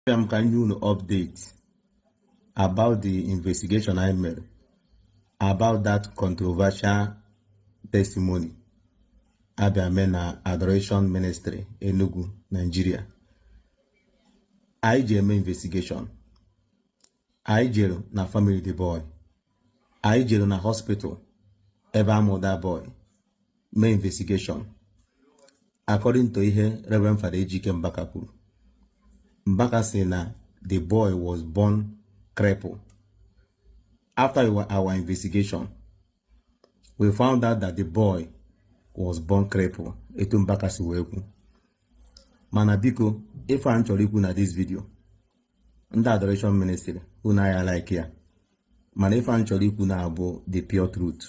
abịa m ka m nye unu update about the investigation anyị mere about that controversial testimony a bịa mee na adoration ministry enugu nigeria anyị jee mee investigation anyị jere na family the boy anyị jere na hospital ebe a mụ the boy mee investigation according to ihe Reverend Father Ejike Mbaka kwuru Mbaka sị na the boy was born cripple after our investigation we found out that the boy was born cripple etu Mbaka si wee kwu mana biko ife a m chọrọ ikwu na this video ndị adoration ministry unu aya like ya mana ife m chọrọ ikwu na-abụ the pure truth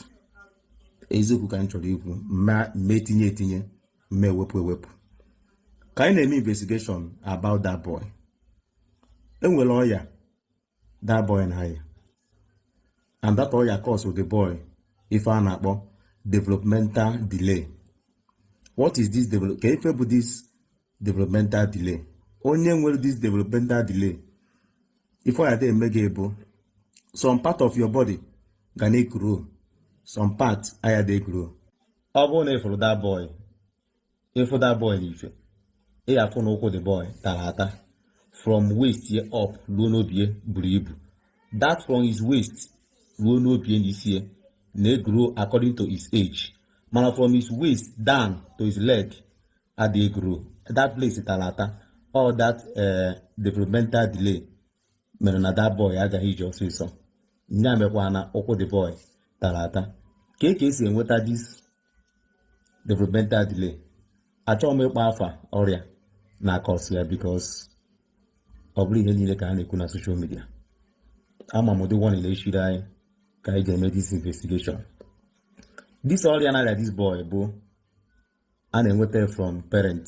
eziokwu ka m chọrọ ikwu mme etinye etinye mme ewepụ ewepụ ka anyị na-eme investigation about that boy e nwere ọya that boy na-aya and that ọya cause the boy ife a na-akpọ developmental delay what is this develop kee ife bụ this developmental delay onye nwere this developmental delay ife ọ ya-eme gị bụ some part of your body ga na-egrow some part aya dị egrow ọ bụrụ na ị fụrụ that boy ị fụ that boy n'ife ị ga-afụ na ụkwụ the boy tara ata from waist ye up ruo n'obie buru ibu that from his waist ruo n'obie n'isi ya na-egrow according to his age mana from his waist down to his leg adịghị egrow that place tara ata ọ bụ that eh, developmental delay mere na that boy agaghị ije ọsịsọ ya mekwa na ụkwụ the boy tara ata kee ka e si enweta this developmental delay achọghị m ịkpọ afa ọrịa na-acause ya because ọ bụrọ ihe niile ka a na-ekwu na social media ama m ụdị warning na-echiri anyị ka anyị ga-eme this investigation this ọrịa na-arịa this boy bụ a na-enweta from parent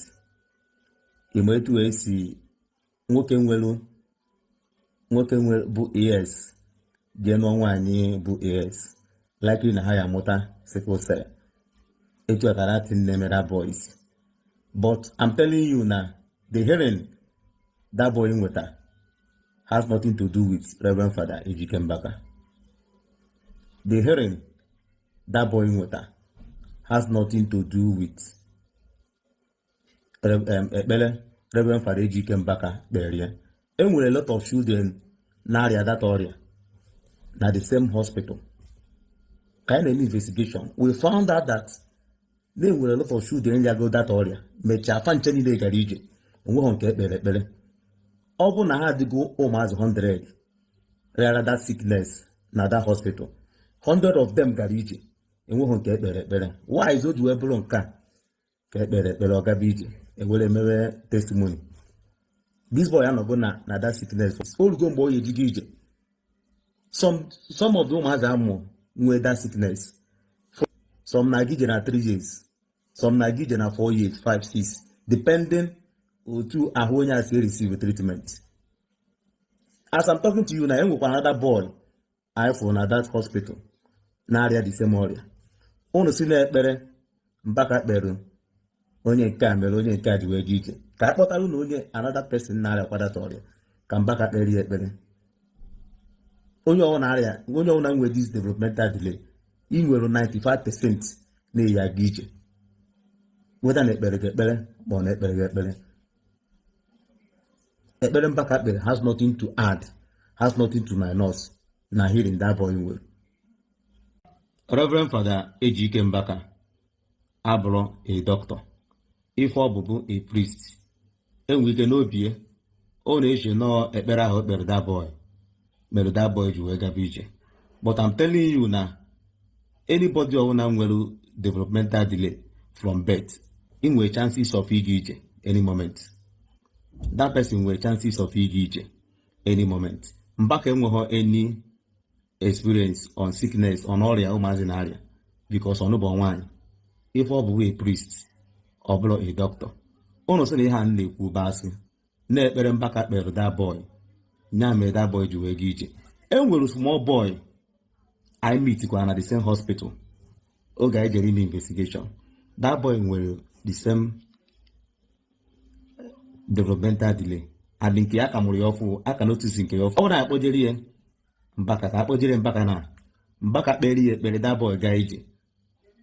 ị ma etu e si nwoke nwere nwoke nwere bụ AS jee nụọ nwaanyị bụ AS likely na ha ya-amụta sickle cell etu a ka that thing na-eme that boy but I'm telling you na the healing that boy nweta has nothing to do with Reverend Father Ejike Mbaka. The healing that boy nweta has nothing to do with ekpere Reverend Fada Ejike Mbaka kpere ya e nwere lot of children na-arịa that ọrịa na the same hospital ka anyị na-eme investigation we found out that na enwere lot of children rịago that ọrịa mechaa fa ncha niile gara ije onweghị nke e kpere ekpere ọ bụ na ha adịgo ụmụazị 100 rịara that sickness na that hospital hundred of them gara ije enweghị nke e kpere ekpere why zi o ji wee bụrụ nke a ka e kpere ekpere ọ gaba ije e were mewe testimony this boy anọgo na na that sickness o rugo mgbe ọ ya-eji ga ije some some of the ụmụazị a mụ nwee that sickness some na-aga ije na three years some na-aga ije na 4 years 5 6 depending otu ahụ onye a si receive treatment as I'm talking to you na enwekwa another boy anyị fụrụ na that hospital na-arịa the same ọrịa unu sị na ekpere Mbaka kpere onye nke a mere onye nke a ji wee dị iche ka a kpọtara unu onye another person na-arịa kwa that ọrịa ka Mbaka kpere ya ekpere onye ọwụna rịa onye ọwụna nwere this developmental delay ị nwere 95% na ị ya-aga ije whether na e kpere gị ekpere or na e kperọ gị ekpere ekpere Mbaka kpere has nothing to add has nothing to minus na healing that boy nwere Reverend Fada Ejike Mbaka abụrọ a doctor ife ọ bụ bụ a priest enwe ike n'obi ya ọ na-eche na ọọ ekpere ahụ o kpere that boy mere that boy ji wee gaba ije but I'm telling you na anybody ọbụla nwere developmental delay from birth ị nwere chances of ịga ije any moment that person nwere chances of ịga ije any moment Mbaka enweghị any experience on sickness on ọrịa ụmụazị na-arịa because ọ nụbeghị nwaanyị ife ọ bụ bụ a priest ọ bụrọ a doctor ụnụ sị na ihe a na-ekwu bụ asị na ekpere Mbaka kpere that boy nya mere that boy ji wee ga ije e nwere small boy I meet kwa na the same hospital oge anyị jere ime investigation that boy nwere the same developmental delay and nke ya a ka mụrụ ya ọfụụ a ka notice nke ya ọfụụ ọ bụrụ na a kpọjere ya Mbaka ka a kpọjere Mbaka na Mbaka kpere ya ekpere that boy gaa ije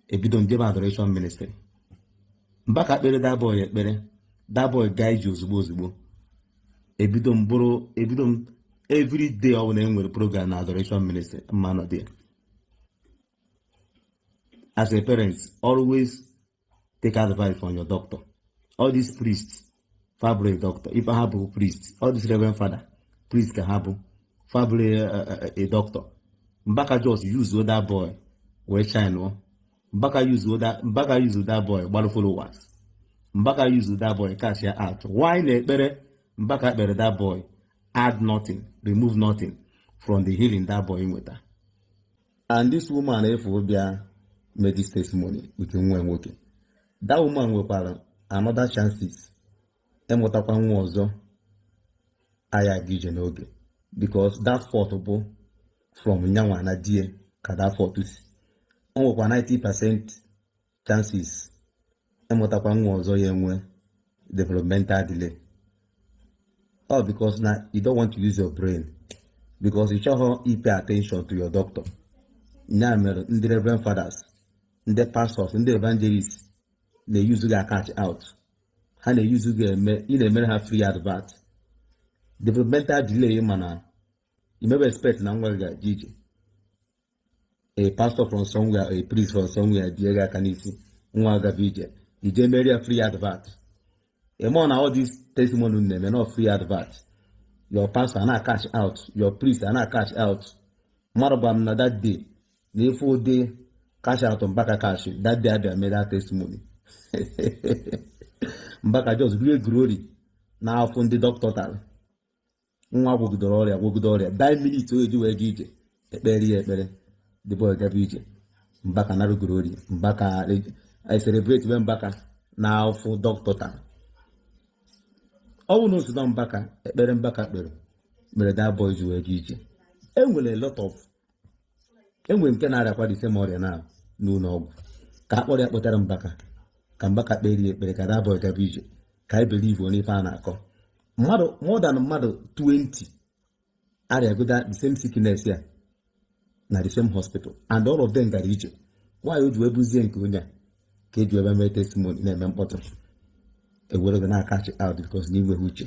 ebido m jebe Adoration Ministry Mbaka kpere that boy ekpere that boy gaa ije ozugbo ozugbo ebido m bụrụ ebido m everyday ọ bụla e nwere program na Adoration Ministry mụ anọdị ya as a parent always take advice from your doctor all these priests fabule doctor ife ha bụ priest all these reverend father priest ka ha bụ fabule eh, eh, eh, a doctor mbaka just use that boy wee china mbaka use that mbaka use that boy gbarụ followers mbaka use that boy cash ya out why na ekpere mbaka kpere that boy add nothing remove nothing from the healing that boy nweta and this woman ị fụrụ bịa mee this testimony with nwa nwoke that woman nwekwara another chances ịmụtakwa nwa ọzọ agaghị ije n'oge because that fault bụ from nyanwa na di ye ka that fault si o nwekwa 90 percent chances ịmụtakwa nwa ọzọ ya enwe developmental delay all because na you don't want to use your brain because ị chọghị ịpay attention to your doctor ya mere ndị reverend fathers ndị pastors ndị evangelists na-euse gị acash out ha na-euse gị eme ị na-emere ha free advert developmental delay mana you never expect na nwa gị ga-eje ije a pastor from somewhere a priest from somewhere bie ya aka n'isi nwa agaba ije i je meere ya free advert ị ma na all this testimony na-eme na free advert your pastor ana cash out your priest ana cash out mmadụ gwara m na that day na ị fụ ụdị cash out mbaka cash that day abịa mee that testimony mbaka just rie glory n'afụ ndị dọkịta tara nwa gwogidere ọrịa gwogide ọrịa the minute o ji wee ga ije e kpeere ya ekpere the boy gaba ije mbaka narụ glory mbaka e celebrate be mbaka na afụ dọkịta taa unu na-asị na mbaka ekpere mbaka kpere mere that boy ji wee ga ije enwere a lot of enwere nke na-arịakwa the same ọrịa na n'ụlọ ọgwụ ka a kpọrọ ya kpọtara mbaka ka mbaka kpeere ya ekpere ka that boy gaba ije ka anyị believe n'ife a na-akọ mmadụ more than mmadụ 20 arịago the same sickness a na the same hospital and all of them gara ije why o ji wee bụzie nke onye a ka eji ebe mee testimony na-eme mkpọtụ ewere gị na-acash out because na i nweghị uche